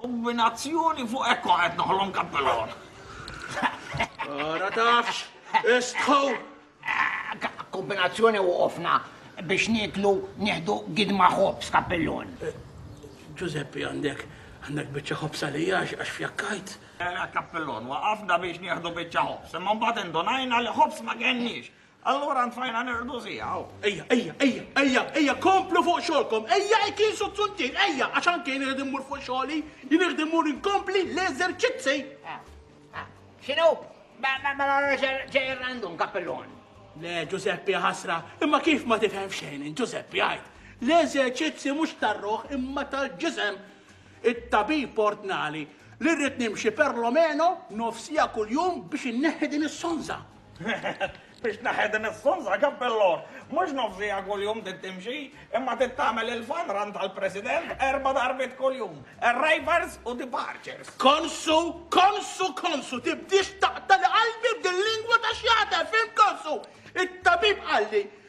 Kombinazzjoni fuq hekk kont qed noħlom kappelon. Ara tafx, istħu! Kombinazzjoni waqofna biex nieklu nieħdu gidma ħobż kappellun. Ġużeppi għandek għandek biċċa ħobż għalija għax fjakkajt. Kappellun, waqafna biex nieħdu biċċa ħobż, imma mbagħad indunajna li ħobż ma kenniex. Allura ntfajna nirdu siegħu. Ejja, ejja, ejja, ejja, ejja, komplu fuq xogħolkom. Ejja, kien suzzuntin, ejja, għax anke jien irid immur fuq xogħli, jien irid immur inkompli l-eżerċizzi. Ah, ah, x'inhu? Ma ma ma ġej randum kappellun. Le, Giuseppe ħasra, imma kif ma tifhem xejn, Giuseppe għajt. L-eżerċizzi mhux tar-ruħ imma tal-ġisem. it-tabib ordnali li rrid nimxi perlomeno nofs siegħa kuljum biex inneħħi din is-sonża. Biex tneħħi din is-sonża, kappellor, mhux nofs siegħa kuljum trid timxi, imma trid tagħmel il-fun run tal-President erba' darbiet kuljum, arrivals u departures. Konsu, konsu, konsu, tibdiex taqtali qalbi b'din lingwa ta' xjata, fim konsu? It-tabib qalli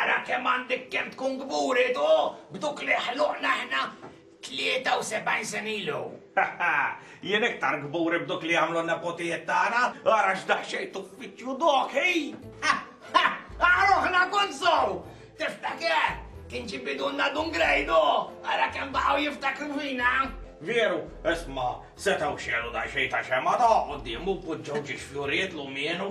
Ara kemm għandek kemm tkun kburi tu, b'duk li ħluqna aħna 73 sena ilu! Jien iktar kburi b'duk li għamlu n-nepotijiet tagħna, ara x'daqsxejn t'uffiċċju dok, hi! Ara ruħna kont sew! Tiftaker, kien ġie bidunna Dun Grejdu, ara kemm baqgħu jiftakru fina! Veru, isma', setgħu xegħlu daqsxejn ta' xemgħa ta' quddiemu, poġġew xi xfjurijiet lumienu.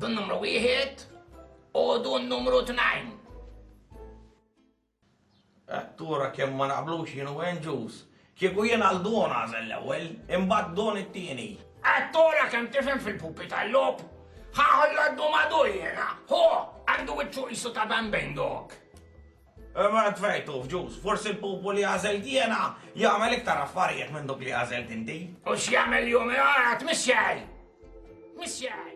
Dun numru wieħed u dun numru tnajn. Attura kemm ma naqblux jien u Andrews. Kieku jien għal dun għażel l-ewwel, imbagħad dun it-tieni. Attura kemm tifhem fil-pupi tal-lob. Ħaħol l-għaddu madu jiena. Hu, għandu wiċċu qisu ta' bambejn dok. Imma tfejtu f'ġus, forsi l-pupu li għażilt jiena jagħmel iktar affarijiet minn dok li għażilt inti. U x'jagħmel jum għad mixxej! Mixxej!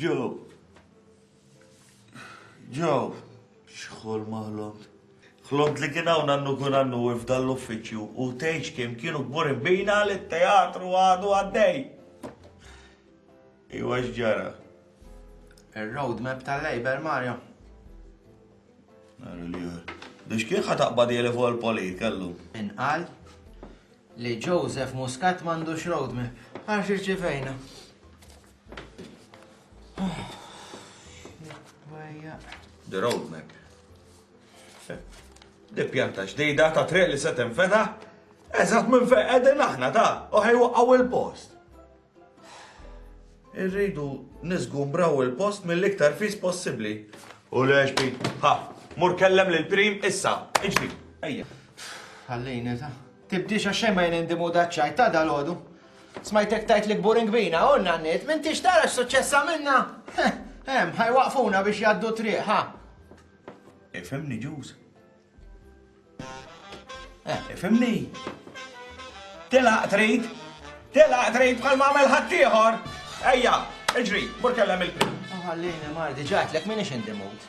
Ġu, Ġew, xħol ma ħlomt. Ħlomt li kien hawn għandu kun għandu f'dan l-uffiċċju u tgħidx kemm kienu kburin bina li t-teatru għadu għaddej. Iwa x'ġara. Ir-roadmap tal-Labor Mario. Għarri li għar. Biex kien ħataqbad jeli fuq il-poli kellu. Inqal li Joseph Muscat m'għandux roadmap. Għarx irċivejna. The roadmap. Di pjanta ġdida ta' triq li se tinfeta, eżatt minn fejn qegħdin aħna ta' u ħejwaqgħu il-post. Irridu niżgumbraw il-post mill-iktar fis possibbli. U lex bi, ha, mur kellem lil prim issa, iġri, ejja. Ħallini ta' Tibdiex għax xejn ma jgħin indi mood għaċ-ċajt ta' dalgħodu. Smajtek tgħid li kbur inkbina, u n-nanniet, m'intix tara x'suċċess għamilna? Hemm, ħa jwaqqfuna biex jgħaddu triq, ħa. Ifhimni, Ġuż. Eh, ifhimni. Telaq trid, telaq trid bħal ma għamel ħaddieħor. Ejja, iġri, mur kellem il-prim. Ħallini, Mardi, ġatlek minix indi mood.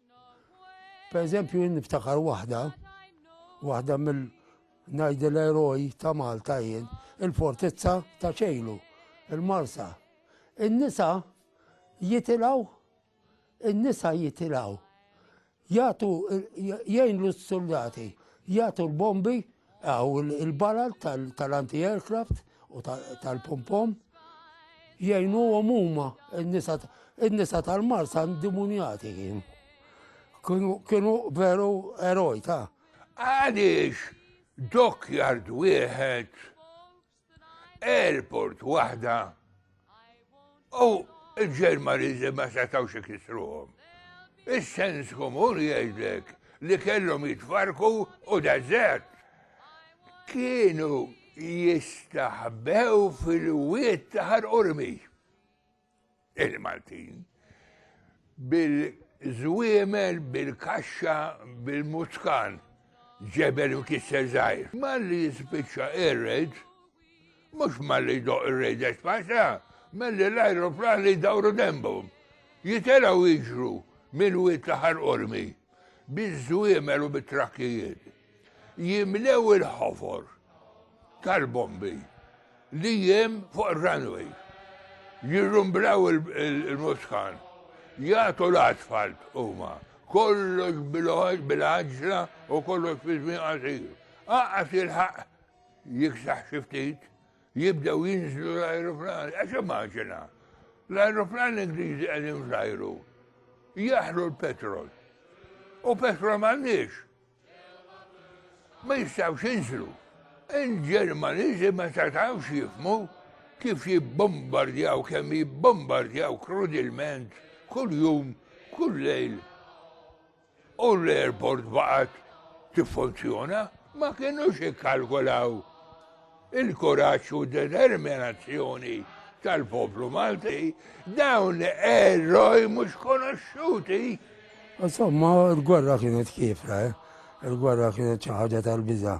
Per eżempju, jien niftakar waħda, waħda mill najdil eroj ta' Malta jien, il-fortizza ta' ċejlu, il-marsa. In-nisa jitilaw, in-nisa jitilaw, jgħatu jgħinlu s-soldati, jgħatu l-bombi, għaw il-balal tal-anti-aircraft, u tal-pompom jgħinu għom huma n-nisa tal-marsa ndimunjati kien. Kienu veru eroj ta' għaliex dokjard wieħed, airport waħda, U l-Ġermaniżi ma setgħux ikisruhom. Is-sens komun jgħidlek li kellhom jitfarku u deżert. Kienu jistaħbew fil-wiet ta' ħarqurmi. Il-Maltin bil-żwiemel, bil-kaxxa, bil-muskan, ġebel u kisser żgħir. Malli jispiċċa ir-reġ, Mhux malli jdoqq ir-Rej de Spanja, malli l-ajruplani jdawru denbhom, jitelgħu jiġru mill-Wied ta' Ħal Qormi biż-żwiemel u bit-trakkijiet, jimlew il-ħofor tal-bombi li hemm fuq ir-runway, jirrumblaw il-muskan, jagħtu l-asfalt huma, kollox bil-għaġġla u kollox fi żmien qasir. Aqqas jilħaq Jiksaħ xi ftit, jibdew jinżlu l-ajruplani, għax immaġina. L-ajruplani Ingliżi qegħdin fl-ajru jaħlu l-petrol. U petrol m'għandniex. Ma jistgħux jinżlu. Il-Ġermaniżi ma setgħux jifmu kif jibbombardjaw, kemm jibbombardjaw krudilment, kull jum, kull lejl. u l-airport baqgħet tiffunzjona, ma kinux ikkalkulaw il-kuraġġ u d-determinazzjoni tal-poplu Malti, dawn eroj mhux konoxxuti. Insomma, il-gwerra kienet kiefra, eh? il-gwerra kienet xi ħaġa tal-biża'.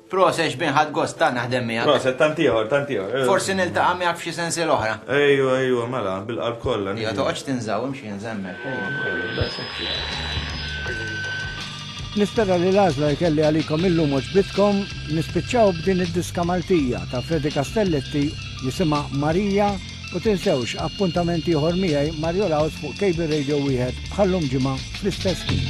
Proset xbin ħadd gost tant naħdem miegħek. Proset tant ieħor, tant ieħor. Eh. Forsi niltaqa' miegħek f'xi sensi l-oħra. Ejju, ejju, mela, bil-qalb kollha. Ja toqgħodx tinżaw imxi nżemmek. Nispera li l-għażla jkelli għalikom illum oġbitkom nispiċċaw b'din id-diska Maltija ta' Fredi Castelletti jisimha Marija U tinsewx appuntament ieħor miegħi Mario Laws fuq Cable Radio wieħed bħallum ġimgħa fl-istess ħin.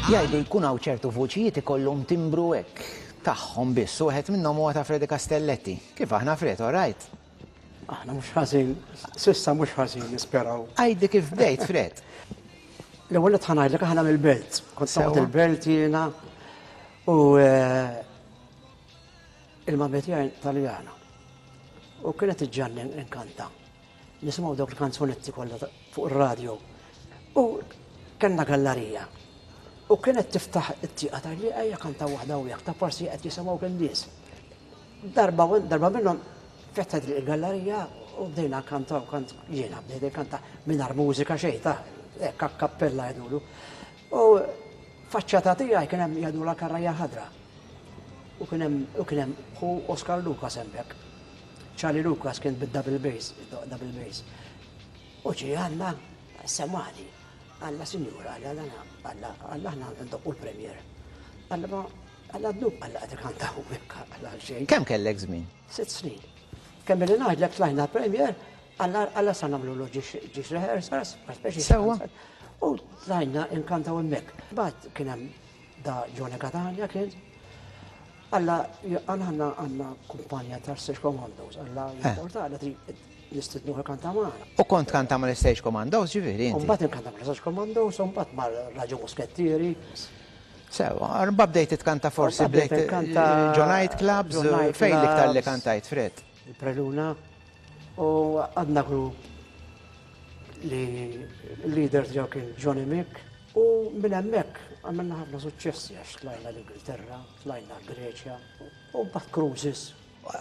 Jgħidu jkun hawn ċertu vuċijiet ikollhom timbru hekk tagħhom biss, wieħed minnhom huwa ta' Fredi Castelletti. Kif aħna Fred, all right? Aħna mhux ħażin, sissa mhux ħażin nisperaw. Għajdi kif bdejt Fred. L-ewwel qed ħanajdlek aħna mill-belt. Kont sewt il-belt jiena u eh, Il-Mamma tiegħi Taljana u kienet iġġanni inkanta. Nisimgħu dawk il-kanzunetti kollha fuq ir-radju. U kellna gallarija. U kienet tiftaħ it-tieqa ta' li ejja kanta waħda u ta' forsi qed jisimgħu kien nies. Darba darba minnhom fetħet li gallarija u bdejna kanta u kant jiena bdejna kanta mingħajr mużika xejn ta' hekk kappella jgħidulu. U faċċata tiegħi kien hemm Jadula Karrajja Ħadra u kien hemm u kien hemm ħu Oscar Lucas hemmhekk. Charlie Lucas kien bid-double bass, double bass. U ġie Alla semani. Alla Sinjura, Alla Alla, Alla, Alla aħna ndoqqu l-Premier. Alla Alla dnub Alla qed ikantaw hekk Alla għal xejn. Kemm kellek żmien? Sitt snin. Kemm billi ngħidlek tlajna l-Premier, għalla sa nagħmlu l ġiex rehearsals, speċi. Sewa. U tlajna inkantaw hemmhekk. Bad kien hemm da Jone Catania kien. Alla għanna għanna għanna kumpanja ta' Stage Commandos, alla eh. jimporta għalla nistidnu kanta maħna. U kont kanta ma' l-Stage Commandos ġiviri. Umbat kanta ma' l-Stage Commandos, umbat ma' l-Raġu Muskettieri. Sew, imbagħad bdejt titkanta forsi bdejt ġo night clubs, fejn l-iktar li kantajt Fred? Il-Preluna u għadna grupp li leaders ġew kien Johnny Mick u minn hemmhekk għamilna ħafna suċċessi għax tlajna l-Ingilterra, tlajna l-Greċja u mbagħad cruises.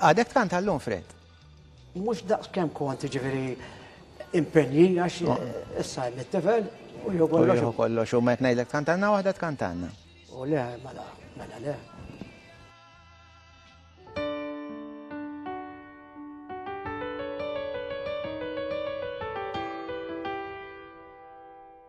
Għadek tkanta llum Fred? Mhux daqs kemm kont jiġifieri impenji għax issa hemm it-tifel u jieħu kollox. Jieħu kollox u meta ngħidlek tkantanna waħda tkantanna. U le, mela, mela le.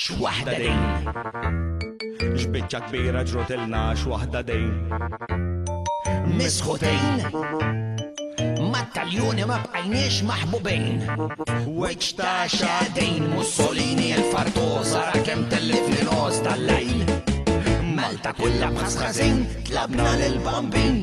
X'waħda din! X'biċċa kbira ġrutilna x'waħda din! Misħutin! Mat-taljuni ma bqajniex maħbubin. Wiċċ ta' xadin Mussolini l-fartosa ra kemm tellifni nos tal-lejl. Malta kullha bħas ħażin tlabna lil bambin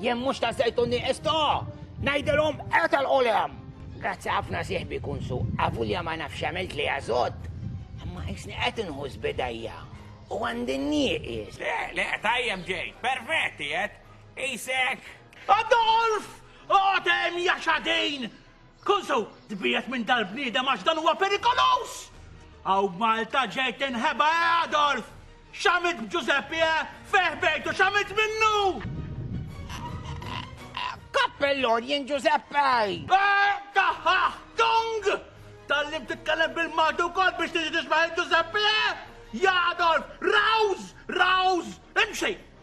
Jien mhux ta' żejt u nieqes to! Ngħidilhom etel qulem! Grazzi ħafna sieħbi kunsu, avulja ma nafx għamilt li għażod, imma qisni qed inħuss bidajja u għandi nieqis. Le, le, tajjeb ġejt, perfett qiegħed, qisek. Adolf! Oqgħod hemm jaxadin! Kun sew tbiegħed minn dal-bniedem għax dan huwa perikoluż! Hawn b'Malta ġej tinħeba eh Adolf! X'għamilt b'Ġużeppi eh? Fejh bgħidt u x'għamilt minnu? Kappellun jien Ġużeppi! Eh, taħħaħ, tung! Tallim titkellem bil-Malti wkoll biex tiġi tisbaħ il-Ġużeppi eh? Ja Adolf, rawż, rawż, imxi!